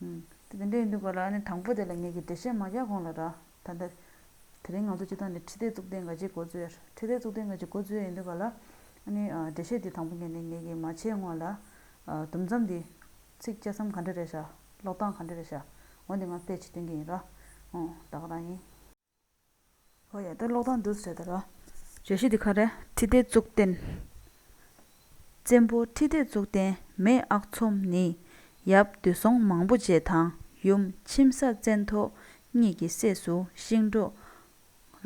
དེ་འདི་འདྲ་ཡིན་འདུག་ག་ལ་ནི་དང་པོ་དེ་ལ་ངེད་ཀྱིས་འགྲེལ་བཤད་མ་རྒྱག་གོང་ལ་ར་ད་ལྟ། དེ་རིང་ང་ཚོ་སྤྱི་ཚོགས་འདི་ཁྲི་སྡེ་བཙུགས་ཏེ་འགའ་ཅི་འགོ་བཙུགས་ཡ་རེད་ཁྲི་སྡེ་བཙུགས་ཏེ་འགའ་ཅི་འགོ་བཙུགས་ཡ་ཡིན་འདུག་ག་ལ། ཨ་ནི་འགྲེལ་བཤད་འདི་དང་པོ་ངེད་ནས་ངེད་ཀྱིས་མ་བྱས་སྔོན་ལ། དུམ་མཚམས་འདི། ཚིག་དཔྱད་སམ་ག་འདྲ་རེད་ཤག་ཀློག་སྟངས་ག་འདྲ་རེད་ཤག་འོན་ཏེ་ང་དཔེ་ཇི་སྟོན་གྱི་ཡིན་ར། ཨོང་ད་ག་རང་ཡིན། ཨོ་ཡ་ད་ཀློག་སྟངས་སྒྲུབ་ཟེར་ད་ར། བརྗོད་གཞི་འདི་ག་རེད། ཁྲི་ལྡེ་གཙུག་བརྟན། བཙན་པོ་ཁྲི་ལྡེ་གཙུག་བརྟན་མེས་ཨག་ཚོམ་ནི་ཡབ་བདུད་སྲོང་མང་པོ་རྗེ་དང་ཡུམ་མཆིམས་ས་བཙན་ཐོ་གཉིས་ཀྱི་སྲས་སུ་ཤིང་འབྲུག།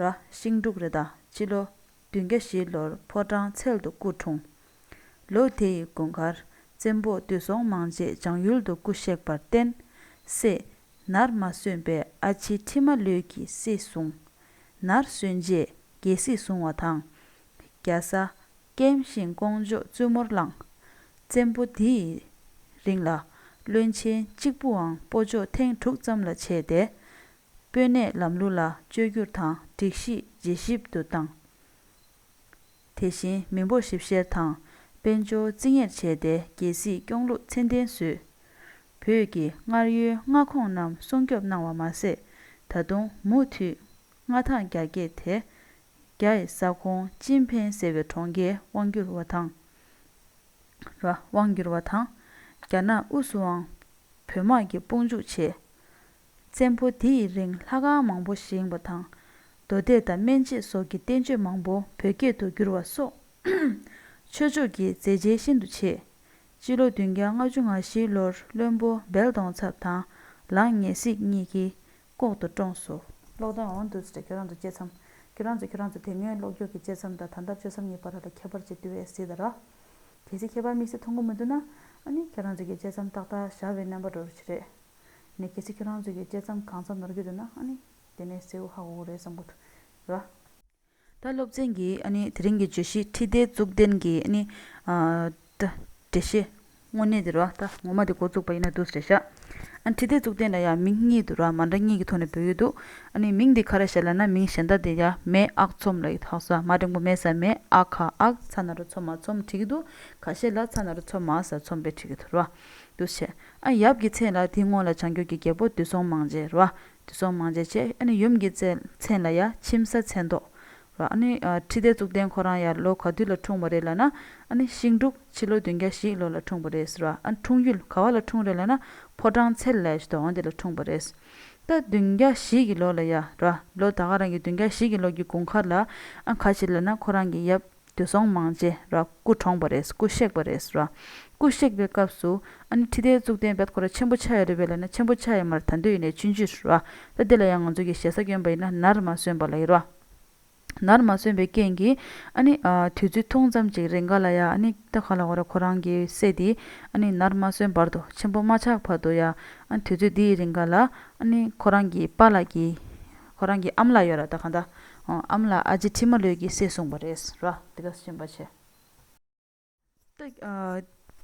ར། ཤིང་འབྲུག་རེད་ད། སྤྱི་ལོ་བདུན་བརྒྱ་བཞི་ལོར་ཕོ་བྲང་འཚལ་དུ་སྐུ་འཁྲུངས། ལོ་དེ་ཡི་དགུན་ཁར་བཙན་པོས་དུས་སོང་མང་རྗེས་འཇང་ཡུལ་དུ་སྐུ་གཤེགས་པར་བརྟེན། སྲས། ནར་མ་སོན་པའི་ཨ་ཕྱི་ཁྲི་མ་ལོད་ཀྱིས་སྲིད་བཟུང། ནར་སོན་རྗེས་རྒྱལ་སྲིད་བཟུང་བ་དང། རྒྱ་བཟའ། ཀེམ་ཤིང་ཀོང་ཇོས་བཙུན་མོར་བླངས། བཙན་པོ་དེ་ཡི་རིང་ལ། བློན་ཆེན་གཅིག་པུའང་སྤོ་འཇོག་ཐེངས་དྲུག་ཙམ་ལ་བྱས་ཏེ། དཔོན་གནས་ལམ་ལུགས་ལ་བཅོས་བསྒྱུར་དང་སྒྲིག་གཞི་ཇེ་ཞིབ་ཏུ་བཏང། དེ་བཞིན་མི་འབོར་ཞིབ་བཤེར་དང་དཔལ་འབྱོར་བརྩི་གཉེར་བྱས་ཏེ་རྒྱལ་སྲིད་སྐྱོང་ལུགས་ཚད་ལྡན་བཟོས། བོད་ཀྱི་སྔར་ཡོད་མངའ་ཁོངས་རྣམས་སྲུང་སྐྱོབ་གནང་བ་མ་ཟད། ད་དུང་མུ་མཐུད་མངའ་ཐང་རྒྱ་བསྐྱེད་དེ། རྒྱ་ཡི་ས་ཁོངས་ཅིན་ཕེན་ཟེར་བའི་གྲོང་ཁྱེར་དབང་བསྒྱུར་བ་དང། དབང་བསྒྱུར་བ་དང། རྒྱ་ནག་དབུས་སུའང་བོད་དམག་གིས་དཔུང་འཇུག་བྱས། བཙན་པོ་དེ་ཡི་རིང་ལྷ་ཁང་མང་པོ་བཞེངས་པ་དང། མདོ་སྡེ་དང་སྨན་དཔྱད་སོགས་ཀྱི་བསྟན་བཅོས་མང་པོ་བོད་སྐད་དུ་བསྒྱུར་བ་སོགས། ཆོས་ཕྱོགས་ཀྱི་མཛད་རྗེས་ཤིན་ཏུ་ཆེ། སྤྱི་ལོ་བདུན་བརྒྱ་ལྔ་ཅུ་ང་བཞིའི་ལོར་བློན་པོ་སྦལ་གདོང་ཚབ་དང་ལང་ངེ་གཟིགས་གཉིས་ཀྱིས་ལྐོག་ཏུ་བཀྲོངས་སོ། ལོག་དོན་འོང་དུས་སུ་ཁྱོད་རང་ཚོ་སྤྱད་མཚམས། ཁྱོད་རང་ཚོས་ཁྱོད་རང་ཚོ་དེ་སྔའི་ལོག་རྒྱུགས་ཀྱི་སྤྱད་མཚམས་དང་ད་ལྟར་སྤྱོད་མཚམས་གཉིས་བར་ལ་ཁྱད་པར་ཅི་བསྟི་བའི་སྲིད་ར། གལ་སྲིད་ཁྱད་པར་དམིགས་བསལ་མཐོང་གི་མི་འདུག་ན། ཨ་ནི་ཁྱོད་རང་ཚོས་ཀྱི་སྤྱད་མཚམས་ཏག་ཏག་བཞག་པའི་རྣམ་པ་འགྲོ་རུ་ཆེ་རེད། ནས་གལ་སྲིད་ཁྱོད་རང་ཚོས་ཀྱི་དཔྱད་མཚམས་གང་ཙམ་ནོར་གྱི་འདུག་ན་ཨ་ནི། དེ་ནས་གསལ་བོ་ཧ་གོ་གོ་རེད་བསམ་གོ་ཐུབ། ད་སློབ་ཚན་གྱི་ཨ་ནི་དེ་རིང་གི་བརྗོད་གཞི་ཁྲིད་སྟེགས་གཙུག་ལྡན་གྱི་ཨ་ནི། འགྲེལ་བཤད། དངོས་གནས་དེར་བ་ད་ངོ་མ་དེ་འགོ་བཙུགས་པ་ཡིན་ན་འདུག་ཟེར་ཤག། ཨ་ནི་ཁྲིད་སྟེགས་གཙུག་ལྡན་ལ་ཡང་མིང་གཉིས་དུ་ར་མ་འདྲ་གཉིས་ཀྱི་ཐོག་ནས་འབོད་ཀྱི་འདུག་ཨ་ནི་མིང་འདི་ག་རེ་ཞེས་ལབ་ན་མིང་གཞན་དག་དེ་ཡང་མེས་ཨག་ཚོམ་ལ་ཡི་དྭགས་ཟ་མ་འབྲིང་པོ་མེས་ཟ་མེས་ཨག་ག་ཨག་ཚ་ན་རུ་ཚོམ་མ་ཚོམ་བྲིས་ཀྱི་འདུག་ག་ཤེས་ལ་ཚ་ན་རུ་ཚོམ་མ་ཟ་ཚོམ་བེ་བྲིས་ཀྱི་འདུག་ར། འདུག་བྱས། ཨ་ཡབ་ཀྱི་མཚན་ལ་དེའི་སྔོན་ལ་བྱང་རྒྱུད་ཀྱི་རྒྱལ་པོ་བདུད་སྲོང་མང་རྗེ་རོ། བདུད་སྲོང་མང་རྗེ་བྱས། ཨ་ནི་ཡུམ་གྱི་མཚན་ལ་ཡ་ཁྱིམ་ས་མཚན་ཏོག་རོ། ཨ་ནི་ཁྲི་ལྡེ་གཙུག་ལྡན་ཁོ་རང་ཡར་ལོ་ག་དུས་ལ་འཁྲུངས་པ་རེད་ལ་ན། ཨ་ནི་ཤིང་འབྲུག་ཕྱི་ལོ་བདུན་བརྒྱ་བཞི་ལོ་ལ་འཁྲུངས་པ་རེད་ཟེར་བ། ཨ་ནི་འཁྲུངས་ཡུལ་ག་བ་ལ་འཁྲུངས་རེད་ལ་ན། ཕོ་བྲང་ཚལ་ལས་ཞེས་དོགས་འདི་ལ་འཁྲུངས་པ་རེད། ད་བདུན་བརྒྱ་བཞི་གི་ལོ་ལ་ཡ་རོ། ལོ་ད་ག་རང་གི་བདུན་བརྒྱ་བཞི་གི་ལོ་གྱི་དགུན་ཁར་ལ། ཨ་ག་བྱེད་ལ་ན་ཁོ་རང་གི་ཡབ། དུས་སོང་མང་རྗེས་ར་སྐུ་གྲོངས་པ་རེད་སྐུ་གཤེགས་པ་རེད་ར་སྐུ་གཤེགས་པའི་སྐབས་སུ་ཨ་ནི་ཁྲི་ལྡེ་གཙུག་བརྟན་བརྒྱ་ཁོ་ར་ཆེན་པོ་ཆགས་ཡོད་རེད་བས་ལ་ན་ཆེན་པོ་ཆགས་ཡོད་མ་ར་ད་འདོད་ཡིན་ནའི་ཆུན་ཆུད་ར་ད་དེ་ལ་ཡང་ང་ཚོ་གི་ཞེ་ས་སྐྱོན་པ་ཡིན་ན་ནར་མ་སོན་པ་ལ་ཡིན་ར་ནར་མ་སོན་པའི་རྐྱེན་གྱིས་ཨ་ནི་དུས་ཚོད་ཐུང་ཙམ་ཅིག་རེ་འགའ་ལ་ཡ་ཨ་ནི་ད་ག་ལ་ཁོ་ར་ཁོ་རང་གི་སྲས་དེ་ཨ་ནི་ནར་མ་སོན་བར་དུ་ཆེན་པོ་མ་ཆགས་བར་དུ་ཡ་ཨ་ནི་དུས་ཚོད་དེའི་རིང་ག་ལ་ཨ་ནི་ཁོ་རང་གི་པ་ལགས་ཀྱི། ཁོ་རང་གི་ཨམ་ལགས་ཡོད་ར་ད་ག་འདྲ་འོང་ཨམ་ལགས་ཨ་ཇེ་ཁྲི་མ་ལོད་ཀྱིས་བསད་གསུངས་པ་རེད་ར་དེ་ག་ཞེན་པ་བྱེད།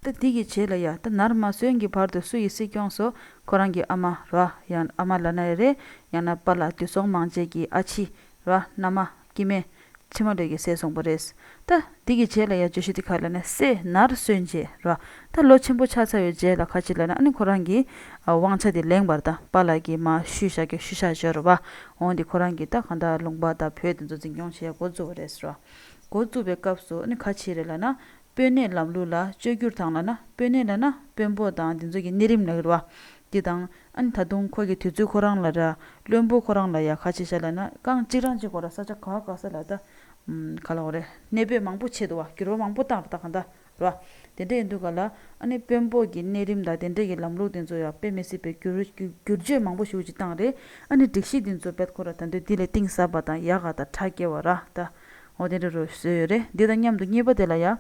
ད་འདི་གི་བྱེད་ལ་ཡ་ད་ནར་མ་སོན་གྱི་བར་དུ་སུ་ཡི་སྲིད་སྐྱོང་སོ་ཁོ་རང་གི་ཨ་མ་ར་ཡང་ཨ་མ་ལ་ན་རེ་རེ་ཡང་ན་པ་ལ་དུས་སོང་མང་བྱེད་ཀྱི་ཨ་ཕྱི་ར་མནའ་མ་ཀྱི་མེ། ཕྱི་མ་འབྲས་ཀྱི་ཟས་གསུངས་པ་རེད། ད། འདི་གི་རྗེས་ལ་ཡང་བརྗོད་གཞི་འདི་ག་ལ་ན་སེ་ནར་སོན་རྗེས་ར། ད་ལོ་ཆེན་པོ་ཆགས་ཚར་བའི་རྗེས་ལ་ཁ་ཅིག་ལ་ན་ཨ་ནི་ཁོ་རང་གི། དབང་ཆ་དེ་ལེངས་པར་ད་པ་ལགས་ཀྱིས་མ་ཞུས་ཤག་གི་ཞུས་ཤག་ཞོར་བ། འོང་དེ་ཁོ་རང་གིས་ད་གང་དག་ལུང་པ་དང་བོད་དེ་ཚོ་འཛིན་སྐྱོང་བྱེད་འགོ་བཙུགས་པ་རེད། འགོ་བཙུགས་པའི་སྐབས་སུ་ཨ་ནི་ཁ་ཅིག་རེ་ལ་ན་དཔོན་གནས་ལམ་ལུགས་ལ་བཅོས་བསྒྱུར་དང་ལ་ན་དཔོན་གནས་ལ་ན་དཔོན་པོ་དང་འདི་ཚོ་གི་གནས་རིམ་ལ་ཧིར་བ་འདི་དང་ཨན་ད་དུང་ཁོ་གི་དུས་ཚོད་ཁོ་རང་ལ་ར་བློན་པོ་ཁོ་རང་ལ་ཡ་ཁ་ཆེ་ཤ་ལ་ན་རྐང་གཅིག་རང་གཅིག་གོ་ར་ས་ཆ་ག་ག་ས་ལ་ད་ག་ལ་གོ་རེ་གནས་སྤོས་མང་པོ་ཆེ་དུ་བ་གྱུར་བ་མང་པོ་བཏང་ར་ད་ག་ད་ར་བ་དེ་འདྲ་ཡིན་དུ་ག་ལ་ཨ་ནི་དཔོན་པོ་གི་གནས་རིམ་དང་དེ་འདྲ་གི་ལམ་ལུགས་དེ་ཚོ་ཡ་དཔེ་མི་སྲིད་པའི་བསྒྱུར་བསྒྱུར་བཅོས་མང་པོ་ཞུ་ཅིག་བཏང་རེ་ཨ་ནི་སྒྲིག་གཞི་དེ་ཚོ་འབད་ཁོ་ར་ད་འདོད་འདི་ལ་གཏིང་ཟབ་པ་དང་ཡ་ག་ད་ཁྲ་སྐྱེ་བ་ར་ད་ཨོ་དེ་འདྲ་རོལ་སྲོལ་ཡོད་རེད་འདི་དང་མཉམ་དུ་གཉིས་པ་དེ་ལ་ཡང་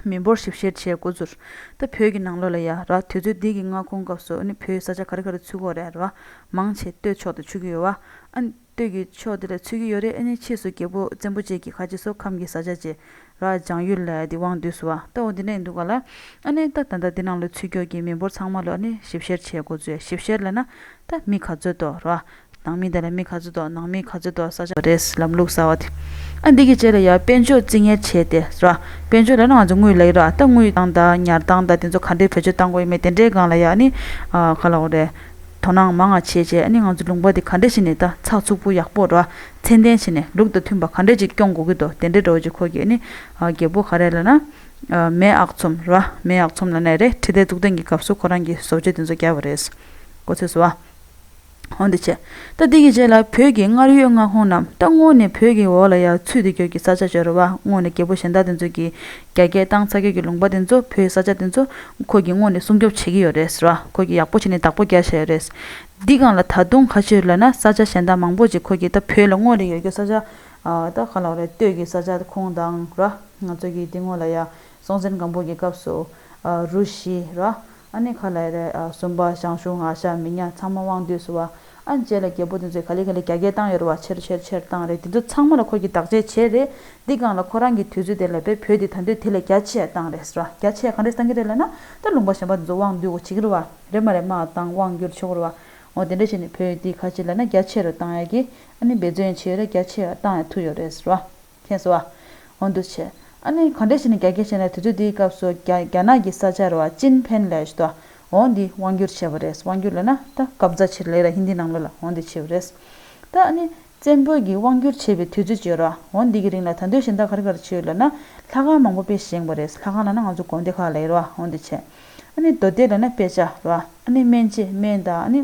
མི་འབོར་ཞིབ་བཤེར་བྱེད་དགོས་ཚུར་ལྟ་བོད་ཀྱི་ནང་ལོགས་ལ་ཡ་ར་དུས་ཚོད་འདི་གི་མངའ་ཁོངས་སྐབས་སུ་ནི་བོད་ས་ཆ་ག་རེ་ག་རེ་ཚུད་གོ་རེད་ར་མང་ཆེ་སྟོད་ཕྱོགས་དུ་ཆུད་ཀྱི་ཡོད་བ་ཨ་ནི་སྟོད་ཀྱི་ཕྱོགས་དེ་ལ་ཚུད་ཀྱི་ཡོད་རེད་ཨེ་ནི་ཕྱིས་སུ་རྒྱལ་པོ་བཙན་པོ་བཅས་ཀྱི་ཁ་ཆེ་སོ་ཁམས་ཀྱི་ས་ཆ་བཅས་ར་སྦྱང་ཡུལ་ལ་ཡ་དེ་བང་དུས་སུ་བ་ལྟ་བུ་འདི་འདྲ་ཡིན་འདུག་ག་ལ་ཨ་ནི་ད་ད་ལྟ་འདི་ནང་ལོགས་ཚུད་སྐྱོགས་ཀྱི་མི་འབོར་ཚང་མ་ལོགས་ནི་ཞིབ་བཤེར་བྱེད་དགོས་ཚུལ་ཞིབ་བཤེར་ལས་ན་ད་མི་ག་ཚོད་དོ་ར་ནང་མི་དང་ལས་མི་ག་ཚོད་འདུག་ནང་མི་ག་ཚོད་འདུག་ས་ཆ་རེད་ཟེར་ལམ་ལུགས་གསར་བ་དེ། ཨ་འདི་གི་རྗེས་ལ་ཡར་དཔལ་འབྱོར་རྩིས་ངན་བྱས་ཏེ་ར། དཔལ་འབྱོར་ལས་ན་ང་ཚོ་དངུལ་ལས་ར་ད་དངུལ་བཏང་ད་ཉར་བཏང་ད་དེ་ཚོ་ག་འདྲའི་བོད་ཆོས་བཏང་དགོས་ཡོད་མེད་དེ་འདྲའི་སྒང་ལ་ཡག་ནི། ག་ལ་འོ་རེད། དོ་སྣང་མང་ང་བྱེད་བྱེད་ནི་ང་ཚོ་ལུང་པ་དེ་ག་འདྲས་བྱེད་ནི་ད་ཚགས་ཚུགས་པོ་ཡག་པོ་ར་ཚད་ལྡན་བྱེད་ནི་ལུགས་དང་མཐུན་པ་ག་འདྲས་ཅིག་སྐྱོང་དགོས་ཀྱི་འདུག་དེ་འདྲའི་འགྲོ་བྱེད་ཁོ་གྱེས་ནི། རྒད་པོ་ག་རེད་ལ་ན། མེས་ཨག་ཚོམ་ར་མེས་ཨག་ཚོམ་ལ་ནས་རེད་ཁྲི་ལྡེ་གཙུག་ཏན་གྱི་སྐབས་སུ་ཁོ་རང་གི་བཟོ་བཅོས་དེ་ཚོ་རྒྱབ་པ་རེད། ཀོ་ཚོད་བཟོ་བ། ཧོན་དུ་བྱས། ད་དེ་གི་རྗེས་ལ་བོད་ཀྱི་སྔར་ཡོད་མངའ་ཁོངས་རྣམས་ད་སྔོན་ནས་བོད་ཀྱི་འོག་ལ་ཡར་ཚུད་དེ་ཁྱོད་ཀྱི་ས་ཆ་བྱ་རུ་བ་སྔོན་ནས་རྒྱལ་པོ་གཞན་དག་དེ་ཚོ་གིས་རྒྱ་སྐད་བཏང་ཚ་ཁྱོད་ཀྱི་ལུང་པ་དེ་ཚོ་བོད་ས་ཆ་དེ་ཚོ་ཁོ་གྱིས་སྔོན་ནས་སྲུང་སྐྱོབ་བྱེད་ཀྱི་ཡོད་རེད་ཟེར་བ་ཁོ་གྱིས་ཡག་པོ་བྱས་ནས་བདག་པོ་རྒྱག་བྱས་ཡོད་རེད། འདི་གང་ལ་ད་དུང་ཁ་ཕྱིར་ལོས་ན་ས་ཆ་གཞན་དག་མང་པོ་ཅིག་ཁོ་གྱིས་ད་བོད་ལ་སྔོན་ནས་ཡོད་རྒྱུ་ས་ཆ། ད་ག་ལ་བ་རེད་སྟོད་ཀྱི་ས་ཆ་ཁོང་དང་ར་ང་ཚོ་གིས་དེ་སྔོན་ལ་ཡར་སྲོང་བཙན་སྒམ་པོ་གྱི་སྐབས་སུ། རུ་བཞི། ར་ཨ་ནི་ཁ་ལའི་རེ་ཨ་སུམ་པ་ཞང་ཞུང་ཨ་ཤ་མི་ཉག་ཚང་མ་དབང་འདུས་སུ་བ་ཨ་བཅས་ལ་རྒྱལ་པོ་དེ་ཚོས་ག་ལེ་ག་ལེ་རྒྱ་སྐད་བཏང་ཡོད་བ་ཆེར་ཆེར་ཆེར་བཏང་རེད་དེ་ཚོ་ཚང་མ་ལ་ཁོ་གྱིས་བདག་གཅེས་བྱས་རེད་འདི་གང་ལ་ཁོ་རང་གི་དུས་ཚོད་དེ་ལ་བས་བོད་དེ་ད་འདོད་དེ་ལས་རྒྱ་ཆེ་བཏང་རེད་ར་རྒྱ་ཆེ་ག་རེ་བཏང་གི་རེད་ལ་ན་ད་ལུང་པ་གཞན་པ་དེ་ཚོ་དབང་འདུས་གོ་བྱེད་ཀྱི་རུ་བ་རེད་མ་རེད་མ་བཏང་དབང་བསྒྱུར་ཆོག་གི་རུ་བ་ངོ་དེ་འདྲ་བྱས་ནས་བོད་དེ་ག་ཅི་ལ་ན་རྒྱ་ཆེ་རུ་བཏང་ཡག་གི་ཨ་ནི་འབད་བརྩོན་ཡང་བྱས་ཡོད་རེད་རྒྱ་ཆེ་ཡང་བཏང་ཡག་ཐུག་ཡོད་རེད་ར། མཁན་ཟེར་བ། འོན་ཏུ་ཆེ། ཨ་ནི་ག་འདྲས་ཞིག་ནི་རྒྱ་སྐད་བཤད་ནས་དུས་ཚོད་དེའི་སྐབས་སུ་རྒྱ་རྒྱ་ནག་གི་ས་ཆ་རེད་བ་ཅིན་ཕེན་ལས་ཞུ་དོ། འོང་འདི་དབང་སྒྱུར་བྱས་བ་རེད་དབང་སྒྱུར་ལས་ན་ད་སྐབས་རྫ་ཆེར་ལེགས་ར་ཧིན་དྷི་ནང་ལོ་ལ་འོང་འདི་བྱས་བ་རེད། ད་ཨ་ནི་བཙན་པོས་གི་དབང་སྒྱུར་བྱས་བའི་དུས་ཚོད་བརྗོད་རོགས་འོང་འདི་གི་རིང་ལ་ད་འདོད་ཞིན་ད་ག་རི་ག་རི་བྱས་ཡོད་ལ་ན་ལྷ་ཁང་མང་པོ་དཔེ་བཞེངས་བ་རེད་ལྷ་ཁང་ལ་ན་ང་ཚོ་དགོན་སྡེ་ཁག་ལེགས་རོགས་འོང་འདི་བྱས། ཨ་ནི་རྡོ་སྡེ་ལ་ན་དཔེ་ཆ་རོགས་ཨ་ནི་སྨན་བྱེད་སྨན་ད་ཨ་ནི།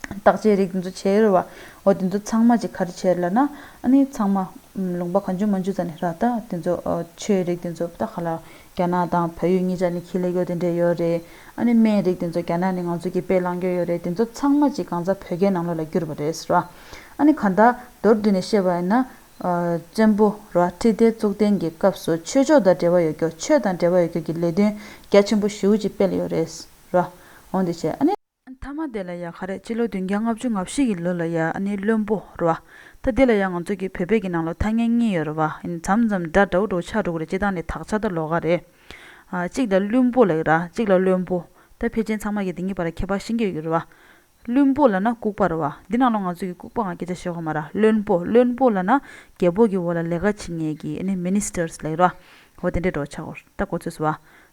བརྟག་དཔྱད་རིགས་འདི་ཚོ་བྱེད་རུང་བ། འོ་དེ་ཚོ་ཚང་མ་གྱི་ཁར་ཁྱེར་ལ་ན། ཨཱ་ནི་ཚང་མ། ལུང་པ་གང་འཇུག་མ་འཇུག་ཙམ་ནས་རག་ད། དེ་ཚོ། ཆོས་རིགས་དེ་ཚོ་ད་ག་ལ། རྒྱ་ནག་དང་བལ་ཡུལ་གཉིས་ཆ་ནས་ཁྱི་ལེ་གོ་དེ་འདྲས་ཡོད་རེད། ཨཱ་ནི་སྨན་རིགས་དེ་ཚོ་རྒྱ་ནག་ནས་ང་ཚོ་གྱི་དཔེ་བླངས་ཀྱི་ཡོད་རེད་དེ་ཚོ་ཚང་མ་གྱི་གང་ཟག་བོད་རྒྱའི་ནང་ལོགས་ལ་བསྒྱུར་བ་རེད་ཟེར་བ། ཨཱ་ནི་ག་ད། མདོར་བསྡུས་ནས་བཤད་པ་ཡིན་ན། བཙན་པོ། ར་ཁྲི་ལྡེ་གཙུག་བརྟན་གྱི་སྐབས་སུ་ཆོས་ཕྱོགས་དང་འབྲེལ་བ་ཡོད་སྐྱོར་ཆོས་དང་འབྲེལ་བ་ཡོད་སྐྱོར་གྱི་ལས་དོན་རྒྱ་ཆེན་པོ་བཞི་བོ་གཅིག་སྤེལ་ཡོད་རེད། ར། འོ་འདི་བྱས་ཨཱ་ནི། མཐའ་མ་དེ་ལ་ཡ་ག་རེད་སྤྱི་ལོ་བདུན་བརྒྱ་ལྔ་བཅུ་ང་བཞི་གི་ལོ་ལ་ཡ་ཨ་ནི་བློན་པོ་རུ་བ་ད་དེ་ལ་ཡ་ང་ཚོ་གི་བོད་པའི་གི་ནང་ལོ་ཐ་སྙད་གཉིས་ཡོད་རུ་བ་ཨ་ནི་འཇམ་འཇམ་འདྲ་འདྲ་འུ་དྲུག་ཆ་དྲུག་རེད་སྤྱི་བཏང་ནི་དག་ཆ་ད་ལོ་ག་རེད་ཨ་གཅིག་ལ་བླུན་པོ་ལེགས་ར་གཅིག་ལ་བློན་པོ་ད་ཕལ་ཆེན་ཚང་མ་གི་དེ་གཉིས་བར་ལ་ཁྱད་པར་ཤིན་གྱི་ཡོད་གི་རུ་བ་བླུན་པོ་ལ་ན་ལྐུགས་པ་རུ་བ་འདི་ནང་ལོ་ང་ཚོ་གི་ལྐུགས་པ་ང་སྐད་ཆ་བཤད་ཁོ་མ་ར་བློན་པོ་བློན་པོ་ལ་ན་རྒྱལ་པོ་གི་འོ་ལ་ལས་ཀ་བྱེད་ངེས་གི་ཨ་ནི Ministers ལེགས་ར་འོ་དེ་འདྲས་འགྲོ་ཆ་གོ་ད་གོ་ཚོད་སུ་བ་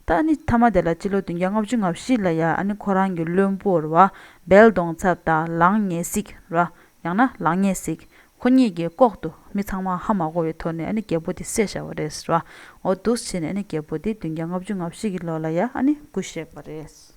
ད་ཨ་ནི་ཐ་མ་དེ་ལ་སྤྱི་ལོ་བདུན་བརྒྱ་ལྔ་བཅུ་ང་བཞི་ལ་ཡ་ཨ་ནི་ཁོ་རང་གི་བློན་པོ་ར་བལ་གདོང་ཚབ་དང་ལང་ཉེ་སིག་ར་ཡང་ན་ལང་ཉེ་སིག་ཁོ་གཉིས་ཀྱིས་ལྐོག་ཏུ་མི་ཚང་མ་ཧ་མ་གོ་བའི་ཐོག་ནས་ཨ་ནི་རྒྱལ་པོ་དེ་བསད་བཞག་པ་རེད་ར་འོ་འདུག་བྱས་ནས་ཨ་ནི་རྒྱལ་པོ་དེ་བདུན་བརྒྱ་ལྔ་བཅུ་ང་བཞི་གི་ལོ་ལ་ཡ་ཨ་ནི་སྐུ་གཤེགས་པ་རེད།